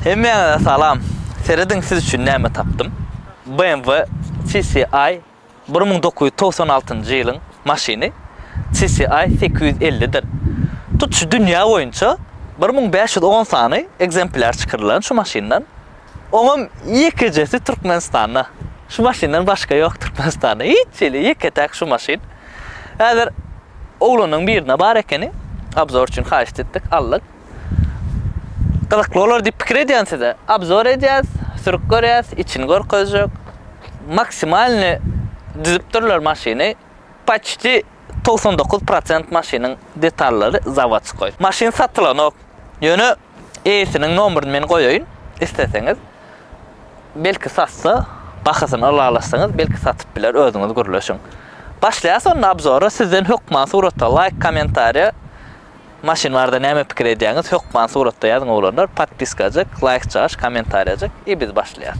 Hemmäňize salam! Serediň siz üçin näme tapdym. BMW CCI bir müň dokuz ýüz togsan altynjy ýylyň maşyny CCI sekiz ýüz elli dir. Tutuş dünýä boýunça bir müň bäş ýüz on sany ekzempler çykarylan şu maşyndan. Oňam ýekejesi Türkmenistanda. Şu maşyndan başga ýok Türkmenistanda. Hiç hili ýeke-täk şu maşyn. Häzir oglanyň birinde bar ekeni. Obzor üçin haýyşt etdik, aldyk. Gyzykly bolar diýip pikir edýän size. Obzor edýäs, sürüp görýäs, içini görkezjek. Maksimalny düzüpdirler maşyny. Paçti togsan dokuz prosent maşynyň detallary zawodskoý. Maşyn satylanok. Ýöne eýesiniň nomeryny men goýaýyn, isleseňiz. Belki satsa, bahasyny ylalaşsaňyz, belki satyp biler, özüňiz gürleşiň. Başlaýas onda obzora, sizden hökman surata laýk, kommentariýa, maşyn barada näme pikir edýäňiz, hökman suratda ýazyň oglanlar, podpiskajyk, laýkjagaş, kommentariýajyk i biz başlaýas.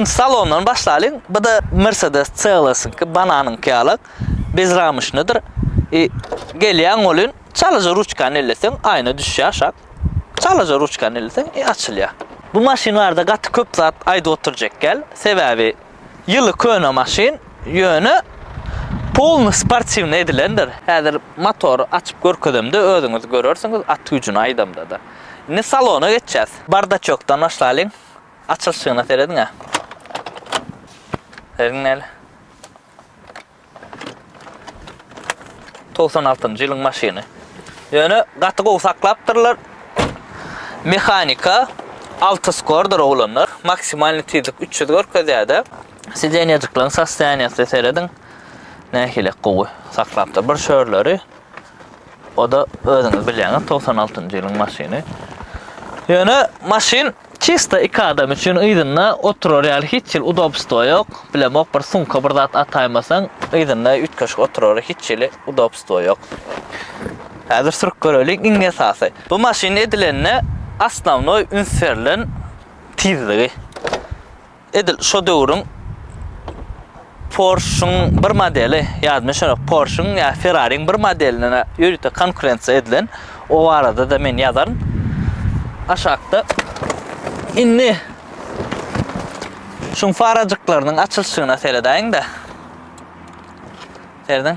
Birinci salondan başlalyň. Bu da Mercedes CLS-iňki bananyňky ýaly. Bez ramışnydyr. E, gelýän bolun, çalyjy ruçkany elleseň, aýna düşýär şak. Çalaja ruçkany ilseň i açylýa. Bu maşyn barada gaty köp zat aýdyp oturjak däl, sebäbi ýyly köne maşyn, ýöne polny sportiwny edilendir, häzir motory açyp görkezemde özüňiz görersiňiz at güýjüni aýdamdada. Indi salona geçýäs. Bardaçokdan başlalyň, açylşygyna serediňä. Serediň näle. Togsan altynjy ýylyň maşyny. Ýöne gaty gowy saklapdyrlar. Mehanika alty skordyr oglanlar. Maksimalny tizlik 300 görkezýärdi. Sidenýejikleriň sostoýaniýasyna serediň. Nähili gowy saklapdyr. Bir şörleri o-da özüňiz bilýäňiz 96-njy ýylyň maşyny. Ýöne maşyn Çysta iki adam üçin yzynda oturar ýaly hiç hili udobstwo ýok. Bilemok bir sumka bir zat ataýmasaň yzynda üýtgeşik oturara hiç hili udobstwo ýok. Häzir sürüp göreliň iň esasy. Bu maşyn edilende osnownoý üns berlen tizligi. Edil şo döwrüň Porsche-yň bir modeli, ýadyma şonok, Porsche-yň ýa Ferrari-yň bir modeline ýörite konkurensiýa edilen, o barada-da men ýazaryn. Aşakda indi şuň farajyklarynyň açylyşyna seredäýiň-de. Serediň.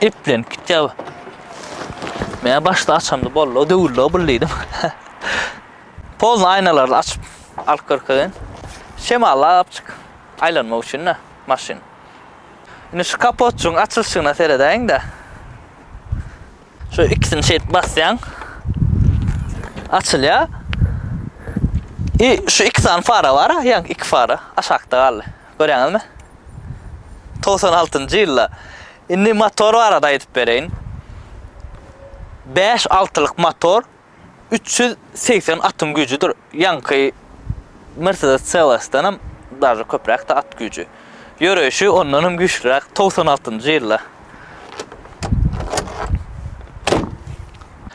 Eplenip gitýär. Men başda açamda bollo döwüllo bul diýdim. Polny aýnalaryny açyp alyp görkezin. Şemallap çyk. Aýlanmak üçin-de maşyn. Indi şu kapotçyň açylyşyna seredäýiň-de. Şu ikisini şeýdip basýaň. Açylýar. I şu iki sany fara bar, ýaňky iki fara aşakda galdy. Görýäňizmi? Togsan altynjy ýylda. Indi motor barada aýdyp bereýin. Bäş altylyk motor üç ýüz segsen atyň güýjüdir. Ýaňky Mercedes CLS-denem daže köpräkdi at güýji. Ýöreýşi ondanam güýçlüräk. Togsan altynjy ýylda.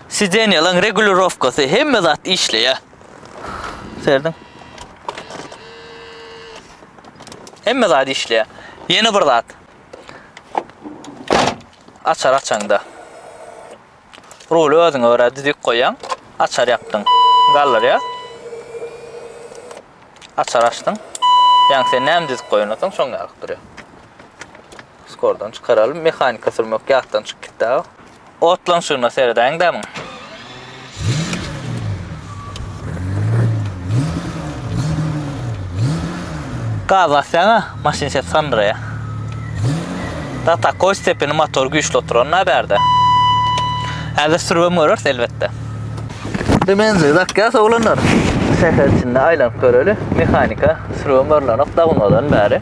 Sidenýalaň regulirowkasy hemme zat işleýär. Serdin. Hemme zat işleýär. Ýene bir zat. Açar açaňda. Ruly özüňe görä düzük goýaň. Açar ýapdyň. Galdyrýa. Açar açdyň. Ýaňy sen näme düzük goýansoň şoň ýalyk durýar. Skordan çykaralyň. Mehanika sürmek ýatdan çykyp gitdi. Otlanşygyna seredäýiň dämiň. Gaz basýaň-a, maşyn ses sandyraýar. Da takoý stepeni motor güýçli oturan-da bärde. Häzir sürübem göreris elbetde. Indi menzil dakýas oglanlar. Şäher içinde aýlanyp göreli. Mehanika sürübem görlenok dagynmadan bäri.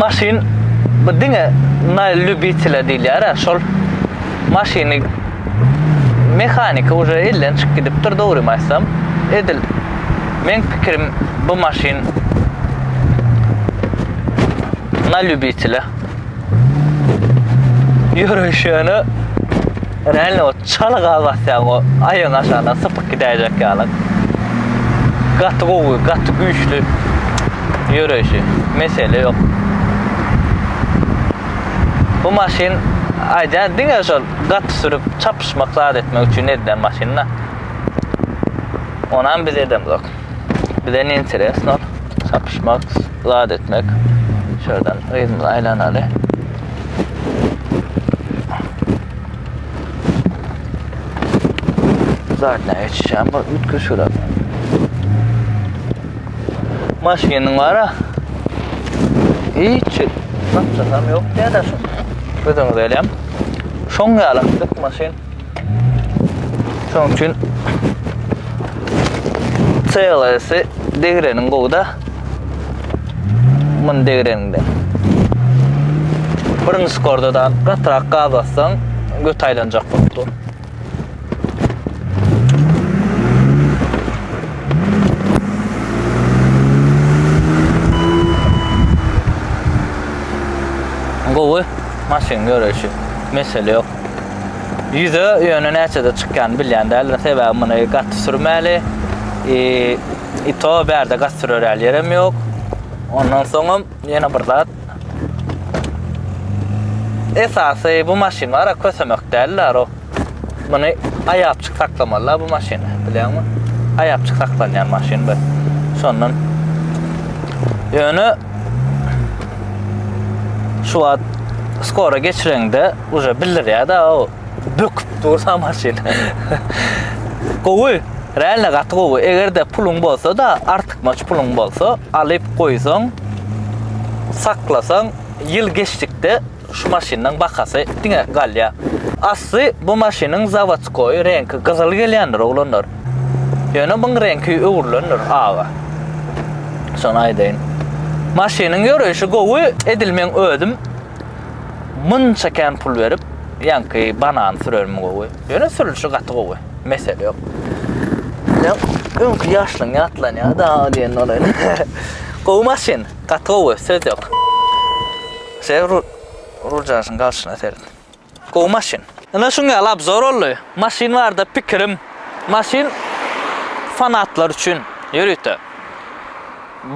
maşyn bu diňe na lýubitele diýilýär şol maşyny mehaniki uje elden çykyp gidipdir dogrymy aýtsam edil meň pikirim bu maşyn na lýubitele ýöreýşi ýöne Realno çal gaz basýaň o aýagyň aşagyndan sypyp gidäýjek ýaly. Gaty gowy, gaty güýçli ýöreýşi. Mesele ýok. Bu maşyn aýdýan diňe şol gaty sürüp çapyşmak zat etmek üçin edilen maşynda. Onam biz edemzok. Bize ne interesno çapyşmak. zat etmek. Şuradan yzymyzy aýlanaly. Zadna geçişen bu ütki şura. Maşynyň bara. Hiç tapsam yok diýär şu. Gözüňiz elem. Şoň ýaly maşyn. Şonuň üçin CLS-i degreniň gowda mun degrende. Birinci skorda da gatrak gaz atsaň göt aýlanjak bolup dur. Gowy maşyn görüşi. Mesele yok. Ýüze ýöne näçede çykýan bilýän däldim. Sebäbi muny gaty sürmäli. E, i to bärde gaty sürer ýaly ýerem ýok. Ondan soňam ýene bir zat. Esasy bu maşynlara kösemek däldir o. Muny aýapçyk saklamalylar bu maşyny, bilýäňmi? Aýapçyk saklanýan maşyn bu. Şondan ýöne şu wagt skora geçireňde Uje bildirýär da o böküp dursa maşyn. Gowy, realno gaty gowy. Eger-de puluň bolsa da, artykmaç puluň bolsa, alyp goýsaň, saklasaň, ýyl geçdikde şu maşynyň bahasy diňe galýar. Asly bu maşynyň zawodskoý reňki gyzyl gelýändir, oglanlar. Ýöne muň reňki öwrülendir, aga. Şony aýdaýyn. Maşynyň ýöreýşi gowy, edil meň özüm Munça kän pul berip ýaňky banany sürermi gowy. Ýöne sürülişi gaty gowy. Mesele ýok. Ýok. Öňki ýaşlyň ýatlanýar da diýen olaýyn. gowy maşyn. Gaty gowy. Söz ýok. Sen Ruljanşyň galşyna seret. Gowy maşyn. Ine şuň ýaly obzor boldy. Maşyn barada pikirim, maşyn fanatlar üçin, ýörite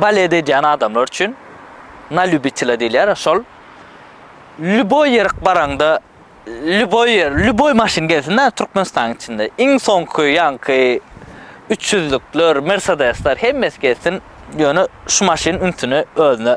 baled edýän adamlar üçin, na lýubitela diýilýär, şol lýuboý ýerik baraňda lýuboý ýer, lýuboý maşyn gelsin-dä Türkmenistanyň içinde, iň soňky ýaňky üç ýüzlükler, mersedesler hemmesi gelsin, ýöne şu maşyn ünsüni özüne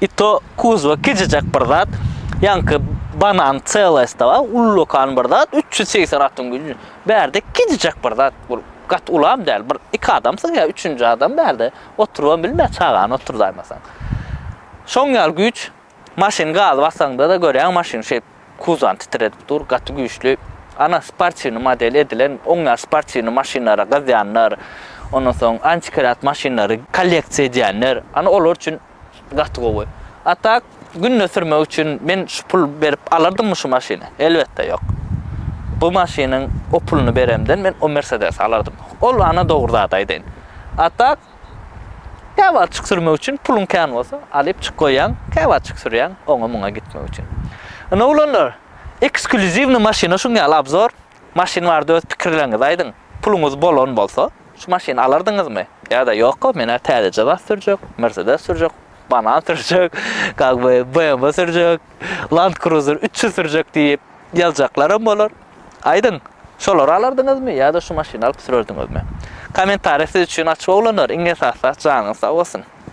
I to kuzwa kiçijek bir zat. Ýaňky banan çelesta bar, ullakan bir zat, üç ýüz segsen atyň güýji. Bärde kiçijek bir zat, ol gaty ulam däl, bir iki adamsyň ýa üçünji adam bärde oturybam bilmeýär, çagany oturdaýmasaň. Şoň ýaly güýç. Maşyn gazy basaňda-da görýäň maşyn şeýp kuzwany titredip dur, gaty güýçli. Ana sportiwnyý model edilen, oň ýaly sportiwnyý maşynlara gyzýanlar, ondan soň antikrat maşynlary kolleksiýa edýänler, ana olar üçin Gaty gowy. A tak günde sürmek üçin men şu pul berip alardymmy şu maşyny? Elbetde ýok. Bu maşynyň o puluny beremden men o Mersedesi alardym. Ol ana dogry zady aýdaýyn. A tak käwagtjyk sürmek üçin puluň kän bolsa alyp çyk goýýaň, käwagtjyk sürýäň oňa muňa gitmek üçin. Ine oglanlar, eksklýuziwnyý maşyna şuň ýaly obzor. Maşyn barada öz pikirleriňizi aýdyň. Puluňyz bolan bolsa, şu maşyny alardyňyzmy? Ýa-da ýok-a, men-ä täzeje zat sürjek, Mersedes sürjek, Banan sürjek, как бы, BMW sürjek, Land Cruiser üç ýüz sürjek diýip, ýazjaklaram bolar. Aýdyň, şolary alardyňyzmy ýa-da şu maşyny alyp sürerdiňizmi? Kommentariýa siz üçin açyk oglanlar, iň esasy zat janyňyz sag bolsun!